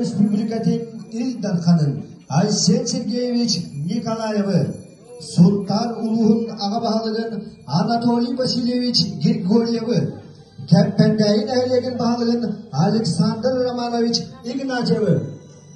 Республикатын Ил Дарханын Айсен Сергеевич Николаевы, Сунтаар улууһун аҕа баһылыгын Анатолий Васильевич Григорьевы, Кэппэндээйи нэһилиэгин баһылыгын Александр Романович Игнатьевы,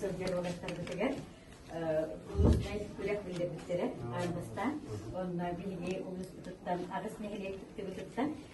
сылдьар күрэх биллэрбиттэрэ аан бастаан онно биһиги улууспутуттан аҕыс нэһилиэк кыттыбытыттан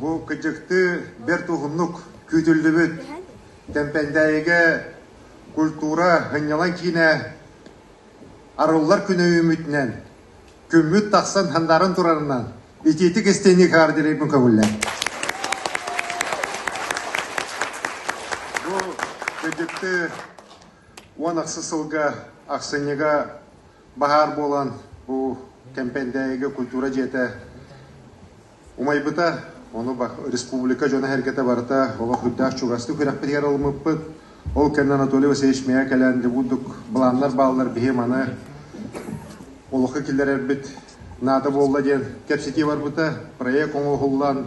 Бу кычыктыы бэрт уһуннук күүтүллүбүт Тэмпэндээйигэ культура һынньалаҥ киинэ арыллар күнэ үүммүтүнэн, күммүт тахсан хандааран турарынан итиитик истиҥник хаар дириҥҥин көҥүллэн. Бу кычыктыы уон ахсы сылга ахсынньыга баһаар буолан бу Кэмпэндээйигэ культура дьиэтэ умайбыта. Ону республика дьоно-сэргэтэ барыта олохуйдаах чугастык күрэхпитигэр ылыммыппыт. Ол кэннэ Анатолий Васильевич миэхэ кэлэн дебутдук былааннар бааллар биһи маны олоххо киллэрэрбит наада буолла диэн кэпсэтии барбыта. Проект оҥоһуллан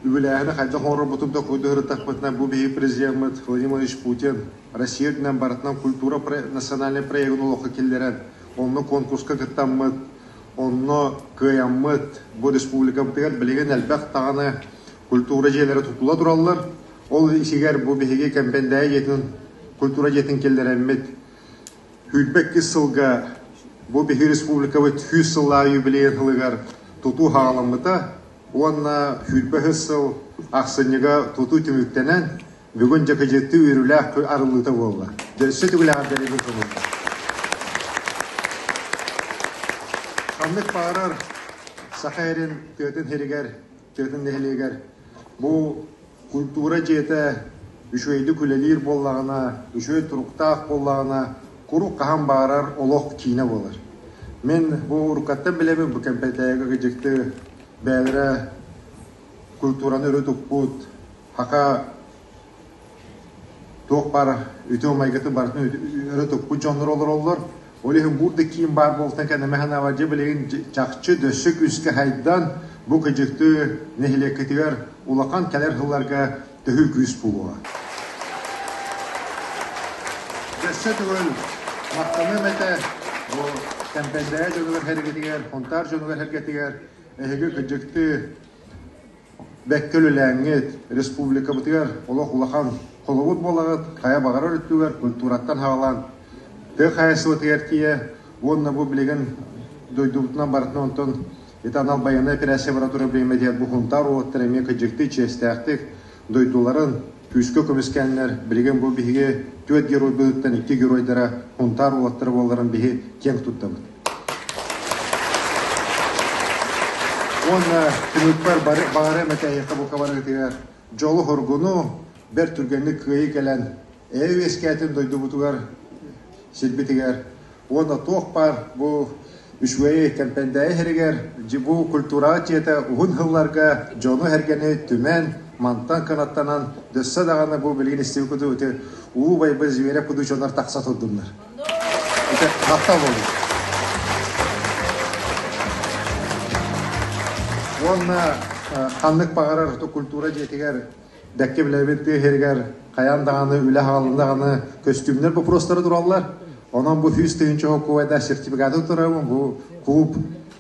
үбүлээһини хайдах оҥорорбутун да курдук ырыттахпытына бу биһи президеммыт Владимир Владимирович Путин Россия үрдүнэн барытынан культура национальнай проегын олоххо киллэрэн онно конкурска кыттаммыт Онно кыайаммыт, бу республикабытыгар билигин элбэх даҕаны культура дьиэлэрэ тутула тураллар. Ол исигэр бу биһиги Кэмпэндээйи дьиэтин культура дьиэтин киллэрэммит күүрбэккис сылга бу биһи республикабыт сүүс сыллааҕы юбилейын сылыгар тутуу саҕаламмыта уонна күүрбэ сыл ахсынньыга тутуу түмүктэнэн Бүгүн дьакыдьыттыы үөрүүлээх күн арыллыыта буолла. Өссө түгүлэҕэр бэрэбил кылынна. Ханнык баҕарар Саха эрин тыатын сиригэр, тыатын нэһилиэгэр бу культура дьиэтэ үчүгэйдик үлэлиир буоллаҕына, үчүгэй туруктаах буоллаҕына, куруук хаһан баҕарар олох киинэ буолар. Мин бу уруккаттан билэбин бу кэмпэтээги кыдьыкты бэйэлэрэ культураны өрө туппут Саха туох баар үтүө-майгытын барытын өрө туппут дьоннор олороллор. Ол иһин буур да киин баар буолтан кэннэ мэһэн авардьа билигин чахчы дөссө күүскэ хайдан бу кыдьыкты нэһилиэккитигэр улахан кэлэр сылларга төһүү күүс буолуо. Дөссө түгэл махтаныам этэ бу Кэмпэйдээйи дьонугар сэргитигэр, Хонтаар дьонугар сэргитигэр эһиги кыдьыкты Бэккэ үлэлээҥҥит, республикабытыгар олох улахан холобур буолаҕыт, хайа баҕарар өттүгэр культураттан саҕалаан тыа хаһаайыстыбатыгар тиийэ уонна бу билигин дойдубутунан барытын онтон ити анал байыаннай операция бара турар бириэмэтигэр бу Хунтаар уолаттара эмиэ кыдьыктыы чиэстээхтик дойдуларын күүскэ көмүскэннэр, билигин бу биһиги түөрт геройбутуттан икки геройдара Хунтаар уолаттара буоларын биһи киэҥ туттабыт. Уонна түмүкпэр баҕарыам этэ эһиэхэ бу кабаныытыгар дьолу-хоргуну, бэрт түргэнник кыайыы кэлэн эйэ үөскээтин дойдубутугар сирбитигэр уонна туох баар бу үчүгэйи кэмпэндээйи иһэригэр бу культураҕа дьиэтэ уһун сылларга дьону-сэргэни түмэн, мантан кынаттанан дөссө даҕаны бу билигин истиби кудуу ити уу байбы зверя кудуу дьонор тахса турдуннар Ити махтал буолуо. Уонна ханнык баҕарар культура дьиэтигэр дэкки билэбит тыа иһигэр хайаан даҕаны үлэ хааллаҕына көстүүмнэр боппуруостара тураллар. Онон бу сүүс тыһыынча холкуобайдаах сертификаты турарым, бу куб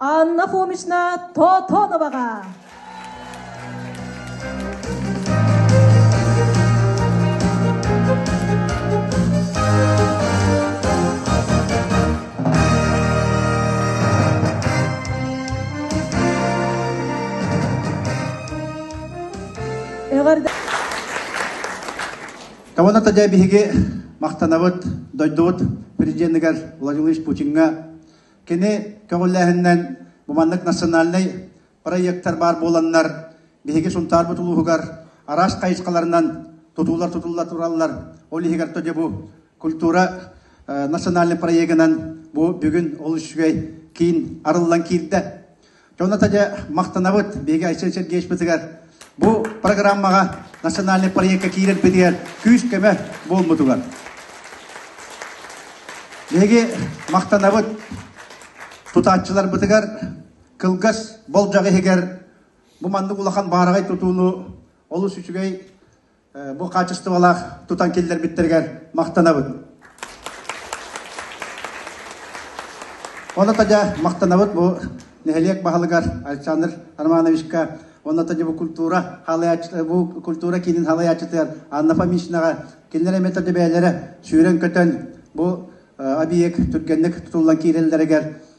Анна Фомична Тотоноваҕа. Кабана тадя биһиги махтанабыт дойдубут президенигар Владимир Путиҥҥа Кини көҕүлээһининэн бу маннык национальнай проектар баар буоланнар, биһиги Сунтаарбыт улууһугар араас хайысхаларынан тутуулар тутулла тураллар. Ол иһигэр тоде бу культура национальнай проегынан бу бүгүн ол үчүгэй киин арыллан киирдэ. Онута дьэ махтанабыт биһиги Айсен Сергеевичпытыгар бу программаҕа национальный проекка киирэрбитигэр күүс-көмө буолмутугар. Биһиги махтанабыт тутааччыларбытыгар кылгас болдьох иһигэр бу маннык улахан баараҕай тутууну олус үчүгэй бу хаачыстыбалаах тутан киллэрбиттэригэр махтанабыт. Ону тадя махтанабыт бу нэһилиэк баһылыгар Александр Романовичка онно тадя бу культура бу культура киинин халайаачытыгар Анна Фомишнаға кинилэр эме тадя бээлэрэ сүүрэн көтөн бу объект түргэнник тутуллан киирэллэригэр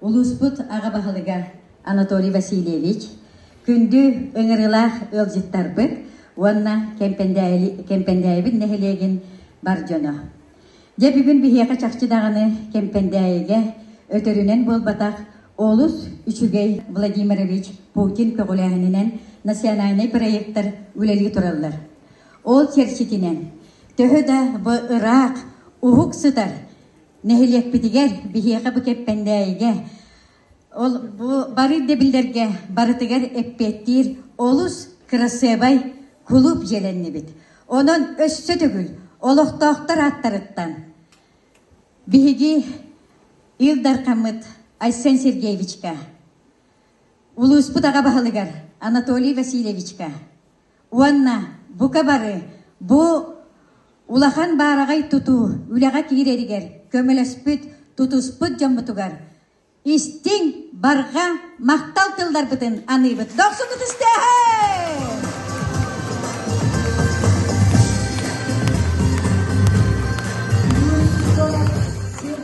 улууспут аҕа баһылыга Анатолий Васильевич, күндү ыҥырыылаах ыалдьыттарбыт уонна Кэмпэндээйибит нэһилиэгин бар дьоно! Дьэ, бүгүн биһиэхэ чахчы даҕаны Кэмпэндээйигэ өтөрүнэн буолбатах олус үчүгэй Владимирович Путин көҕүлээһининэн национальнай проектар үлэлии тураллар. Ол чэрчитинэн төһө да бу ыраах, уһук сытар Нэһилиэкпитигэр, биһиэхэ бу Кэппэндээйигэ, ол бу бары да биллэргэ барытыгар эппиэттиир олус кырасыабай кулууп дьиэлэннибит. Онон өссө төгүл олохтоохтор ааттарыттан биһиги Ил Дархаммыт Айсен Сергеевичка, улууспут аҕа баһылыгар Анатолий Васильевичка, Уонна бука бары бу улахан баараҕай тутуу үлэҕэ киирэригэр көмөлөспүт, тутуспут дьоммутугар истиҥ барҕа махтал тылларбытын аныыбыт. Дохсукут истээһин!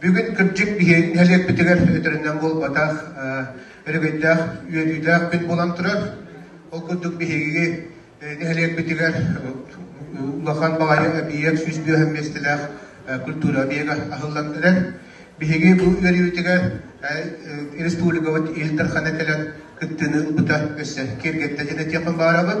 Бүгүн кырдьык биһи нэһилиэкпитигэр өтөрүнэн буолбатах өрөгөйдөөх үөрүүлээх күн буолан турар. Ол курдук биһиги нэһилиэкпитигэр улахан баҕайы объект сүүс бүөһ миэстэлээх культура объега аһыллан Биһиги бу үөрүүтүгэр республикабыт Ил Дархана кэлэн кыттыыны ылбыта өссө киэргэттэ дьиэ этиэхпин баарабыт.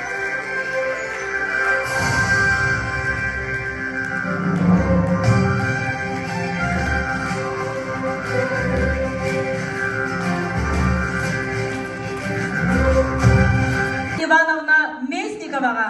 Ивановна Местниковаҕа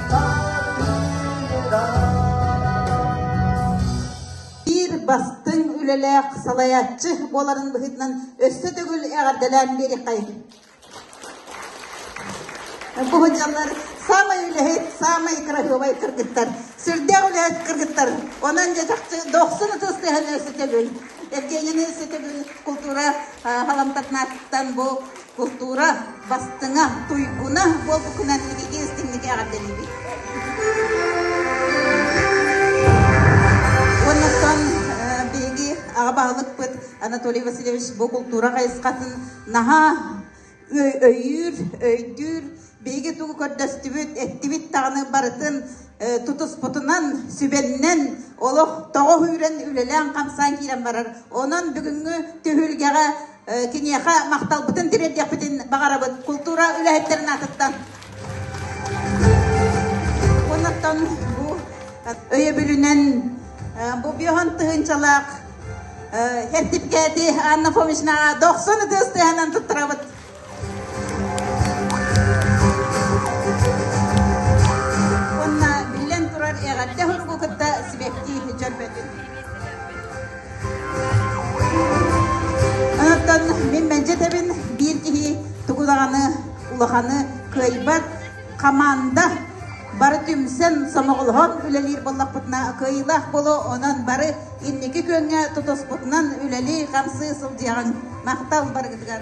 Биир бастыҥ үлэлээх салайааччы буоларын быһыытынан өссө төгүл эҕэрдэлээн биэриэххэй. Бу дьаллар саамай үлэһит, саамай красивай кыргыттар. Сүрдээх үлэһит кыргыттар. Онон дьачахчы дохсун ытыстыһаны сытөбүл. Евгенияны сытөбүл култуура халамтатнааттан бу култуура бастыҥа, туйгуна буолбукунан итити истиҥник эҕэрдэлиибит. Уоннаттан биһиги аҕа баһылыкпыт Анатолий Васильевич бу култуура хайысхатын наһаа өйүүр, өйдүүр, биһиги тугу көрдөстүбүт, эттибит даҕаны барытын тутуспутунан, сүбэннэн олох тоҕо үүрэн үлэлээн-хамсаан киирэн барар. Онон бүгүҥҥү түһүлгэҕэ киниэхэ махталбытын тириэрдиэхпитин баҕарабыт култуура үлэһиттэрин аатыттан. Оннуктан бу өйөбүлүнэн бу биоһон тыһынчалаах сертификаты Анна Фомичнаҕа дохсун ытыс тыһанан туттарабыт. Уонна, биллэн турар, эҕэрдэ суругу кытта сибэкки дьөрбөтүн. Оноттон мин мэлдьэтэбин биир киһи тугу даҕаны улаханы кыайбат команда бары түмсэн сомоҕолоһон үлэлиир буоллахпытына кыайыылаах буолуо онон бары инники күөҥҥэ тутуспутунан үлэлии хамсыы сылдьыаҕыҥ махтал барыгытыгар